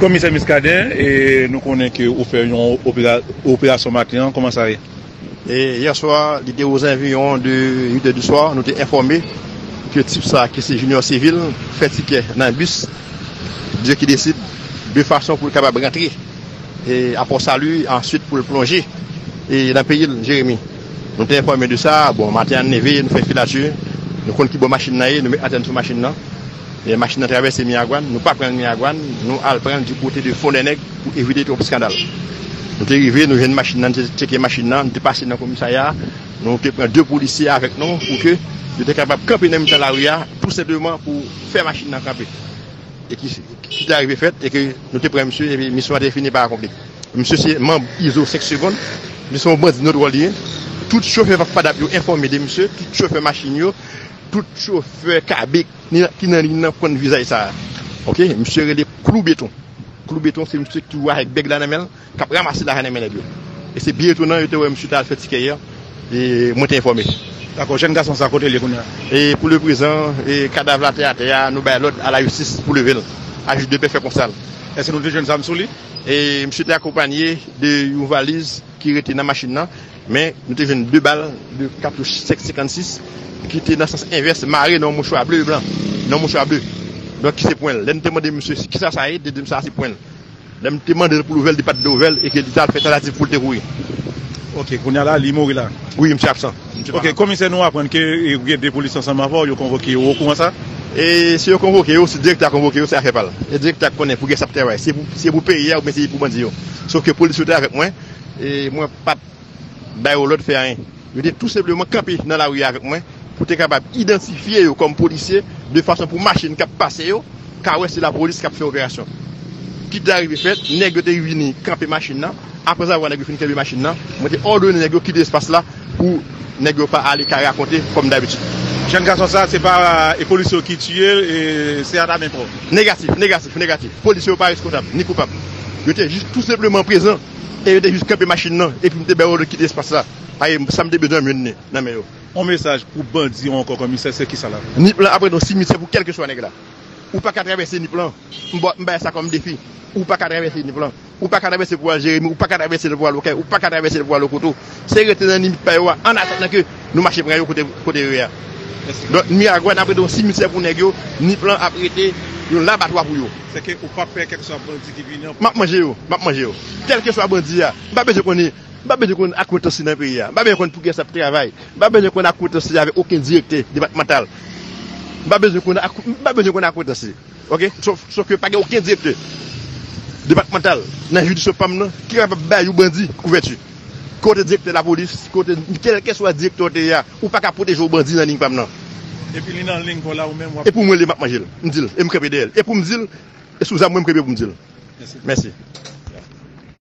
Komisè Muscadin nou konnen ke ou fè yon operasyon maten an, kòman sa ye? Yè swa li te ozanviyon de 8 è di swa nou te enfòme ke tip sa ki se Junior Civil fè tikè nan bis de ki desid de fason pou l kapab rantre a Pò Sali answit pou l plonje nan peyi l Jeremi nou te enfòme de sa bon maten an n leve nou fè filati nou konn ki bò machin nan ye nou met antèn sou machin nan. Lè machin nan travèse Miragwàn, nou pa pran l Miragwàn, nou al pran l di kote de Fondènèg pou evite twòp skandal. Nou te rive, nou jwenn machin nan, nou te tcheke machin nan, nou te pase nan komisarya a, nou te pran de polisye avèk nou pou ke yo te kapab kanpe nan mitan lari a tou senpleman pou fè machin nan kanpe. E ki ki te arive fèt e ke nou te pran misye epi misyon an te fini pa akonpli. Misye se manb Izo 5 segond, li se yon bandi nodwòl li ye, tout chofè FADAP yo enfòme de misye, tout chofè machin yo, Tout chofè kabek ki nan liy nan konn vizaj sa a ok misye rele klou beton klou beton se misye ki toujou avèk bèg la nan menl kap ramase lajan nan men nèg yo e se byen etonan yo te wè misye ta al fè tikè yè e mwen te enfòme Dakò jèn gason sa kote li ye kounya? E pou le prezan e kadav la te atè a nou bay lòd a la jistis pou level a jij depè fè konsal. Eske nou te jwenn zam sou li? E misye te akonpanye de yon valiz ki rete nan machin nan. Men, nou te jwenn 2 bal, 2 katouch 5,56, ki te nan sans envès, mare nan yon mouchwa ble e blan. Nan yon mouchwa ble. Donk, ki se pwen l. Lè m te mande misye ki sa sa ye, li te di m sa a se pwen l. Lè m te mande l pou l ouvè l, li pa t vle ouvè l e ke li t al fè tantativ pou l te kouri. Ok, kounye a la, li mouri la? Wi, misye absan. Misye pa la. Ok, komisè, nou aprann ke ou gen 2 polis ansanm avè w, yo konvoke yo. Ou okouran sa? E si yo konvoke yo, si direktè a konvoke yo, se afè pa l. E direktè a ki konnen pou gen sa pou travay. Se pou peyi a oubyen se pou bandi yo. Sof ke polis yo te avèk mwen. E mwen pa t ba yo lòd fè anyen. Yo te tou senpleman kanpe nan lari a avèk mwen pou te kapab idantifye yo kòm polisye de fason pou machin k ap pase yo ka wè se lapolis k ap fè operasyon. Kit la rive fèt, nèg yo te vini kanpe machin nan. Aprèzavwa nèg yo fin kenbe machin nan, mwen te òdone nèg yo kite espas la pou. Nèg yo pa ale ka rakonte kòm dabitid. Jèn gason sa se pa e polisye yo ki tiyel e se ata men kò. Negatif, negatif, negatif. Polisye yo pa reskontab, ni koupab. Yo te jis tou senpleman prezan e yo te jis kanpe machin nan epi m te bay òd kite espas la. Paye m sa m te bezwen jwenn nan men yo. On mesaj pou bandi yo ankò kòmisè se kisa la? Nip lan ap ret on simityè pou kèlkeswa nèg la. Ou pa ka travèse Nip lan. M bay sa kòm defi. Ou pa ka travèse Nip lan. Ou pa ka travèse pou al Jeremi, ou pa ka travèse pou al Okay, ou pa ka travèse pou al Okoto. Se rete nan limit pa yo a an atandan ke nou mache pran yo kote yo ye a. Donk Miragwàn ap rete yon simityè pou nèg yo, Nip lan ap rete yon labatwa pou yo. Sè ke ou pa pè kèlkeswa bandi ki vini an. M ap manje yo, m ap manje yo. Kèlkeswa bandi a, m pa bezwen konnen, m pa bezwen konn akwentans li nan peyi a. M pa bezwen konn pou kiyès l ap travay. M pa bezwen konn akwentans li avèk oken direktè depatmantal. M pa bezwen konn, m pa bezwen konn akwentans li. Ok, sof ke pa gen oken direktè depatmantal nan jiridiksyon pa m nan ki kapab bay yon bandi kouvèti. Ke w te direktè lapolis, ke w te kèlkeswa direktè w te ye a, ou pa ka pwoteje yon bandi nan ling pa m nan. Epi li nan ling pa w la ou menm w ap. E pou m wè l e m ap manje l. M di l e m kanpe dèyè l. E pou m di l e sou zam mwen m kanpe pou m di l. Mèsi.